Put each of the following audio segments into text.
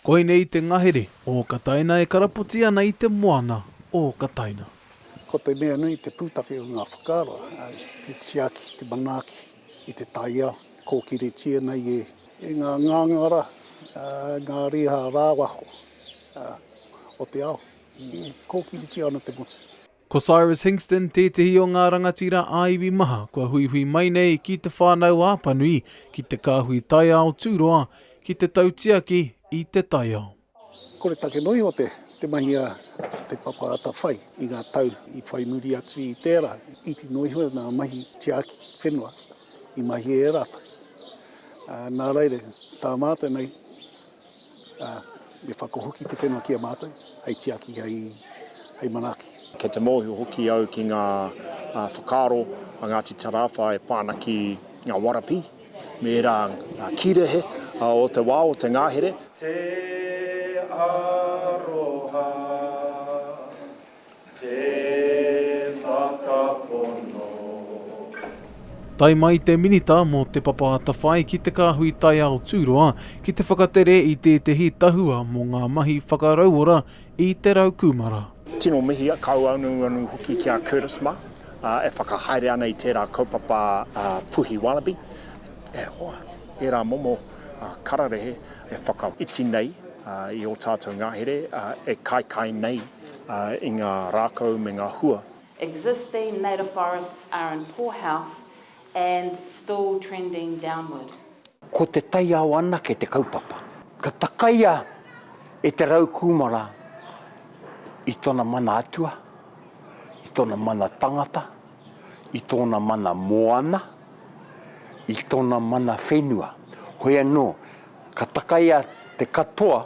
Koinei te ngahere o Kataina e karapoti ana i te moana o Kataina. Ko te mea nui te pūtake o ngā whakaaro, te tiaki, te manaaki i te taiao, kōkiritia nei e ngā ngāngara, ngā riha rāwaho o te ao, kōkiritia ana te motu. Ko Cyrus Hingston tētehi o ngā rangatira ā-iwi maha kua huihui mai nei ki Te Whānau a Panui, ki Te Kāhui Taiao Tūroa, ki te tautiaki i te taiao. Kore take noa iho te mahi a Te Papa Atawhai i ngā tau i whai muri atu i tērā. Iti noa iho ngā mahi tiaki whenua i mahia e rātou. Nā reira, tā mātou nei, ā, me whakahoki te whenua ki a mātou, hei tiaki, hei, hei manaaki. Kei te mōhio hoki au ki ngā whakaaro a Ngāti Tarāwha e pā ana ki ngā warapi me ērā kīrehe o te wā o te ngahere. Te aroha Tae mai te Minita mō Te Papa Atawhai ki te Kāhui Taiao Tūroa ki te whakatere i tētehi tahua mō ngā mahi whakarauora i te rau kūmara. Tino mihi kauanuanu hoki ki a Curtis mā, e whakahaere ana i tērā kaupapa Puhi Wallaby, e hoa, ērā momo kararehe e whakaiti nei i ō tātou ngahere e kaikai nei i ngā rākau me ngā hua. Existing native forests are in poor health and still trending downward. Ko te taiao anake te kaupapa. Ka takaia e te rau kūmara i tona mana atua, i tona mana tangata, i tōna mana moana, i tona mana whenua. Hoi anō, ka takaia te katoa.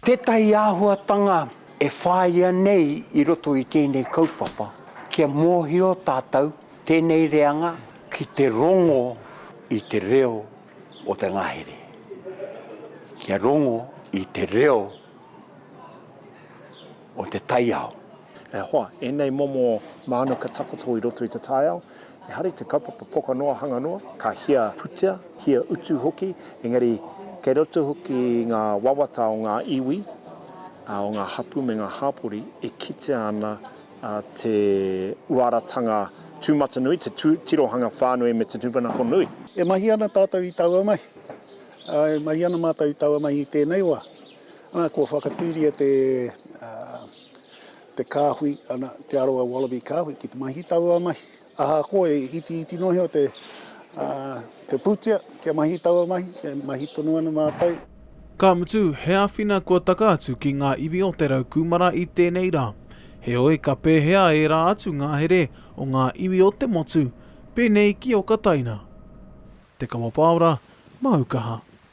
Tētahi āhuatanga e whāia nei i roto i tēnei kaupapa, kia mōhio tātou tēnei reanga ki te rongo i te reo o te ngahere, kia rongo i te reo o te taiao. E hoa, ēnei momo mānuka takoto i roto i te taiao, ehara i te kaupapa poka noa, hanga noa, ka hia putea, hia utu hoki, engari kei roto hoki i ngā wawata o ngā iwi, o ngā hapū me ngā hāpori e kitea ana te uaratanga tūmatanui, te tirohanga whānui me te tūmanako nui. E mahi ana tātou i taua mahi, ā, e mahi ana mātou i taua mahi i tēnei wā. Nā, kua whakatūria te. te kāhui, ana, Te Arawa Wallaby Kāhui ki te mahi ki taua mahi. Ahakoa e itiiti noa iho te, ā, te pūtea kia mahi i taua mahi, e mahi tonu ana mātou. Ka mutu, he āwhina kua taka atu ki ngā iwi o Te Rau Kūmara i tēnei rā. Heoi, ka pēhea ērā atu ngahere o ngā iwi o te motu, pēnei ki Okataina? Te Kawa Pāora, Māu Kaha.